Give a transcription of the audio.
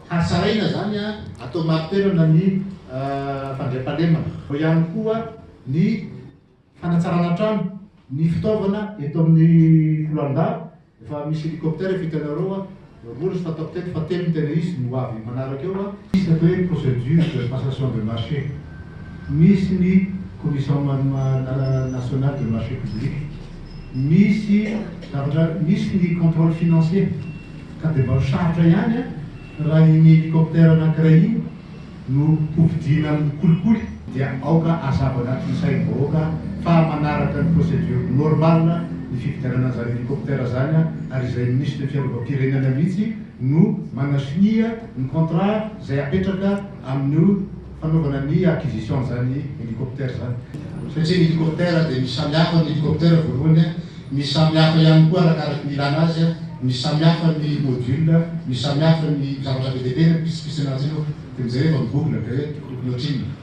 Hasaraina izany atao marin-toerana ny fandriampahalemana. Ao ihany koa ny. Fanatsarana trano, ny fitaovana eto amin'ny Foloalindahy efa misy hélicoptère efa hitanareo a, roa izy fantako teto fa telo ny tena izy ny ho avy manaraka eo a. Misy ny atao hoe procédure de passation de marché, misy ny commission nationale de marché public, misy zavatra, misy ny contrôle financier ka dia mba ho sarotra ihany a raha iny hélicoptère anankiray iny, no hofidiana amin'ny kolikoly dia aoka hazava anatin'ny sain'ny vahoaka fa manaraka ny procédure normale ny fifidianana an'izany hélicoptère izany ary izay Ministry ny fiarovam-pirenana mihitsy no manasonia ny contrat izay hapetraka amin'ny fanaovana ny acquisition an'izany hélicoptère izany satria ny hélicoptère dia misy samihafa ny hélicoptère voalohany Misy samy hafa ihany koa arakaraky ny ilana azy, misy samy hafa ny module, misy samy hafa ny zavatra be dia be na pitsipitsy anaty io dia mijery eto amin'ny google dia hoe tokony ohatrinona.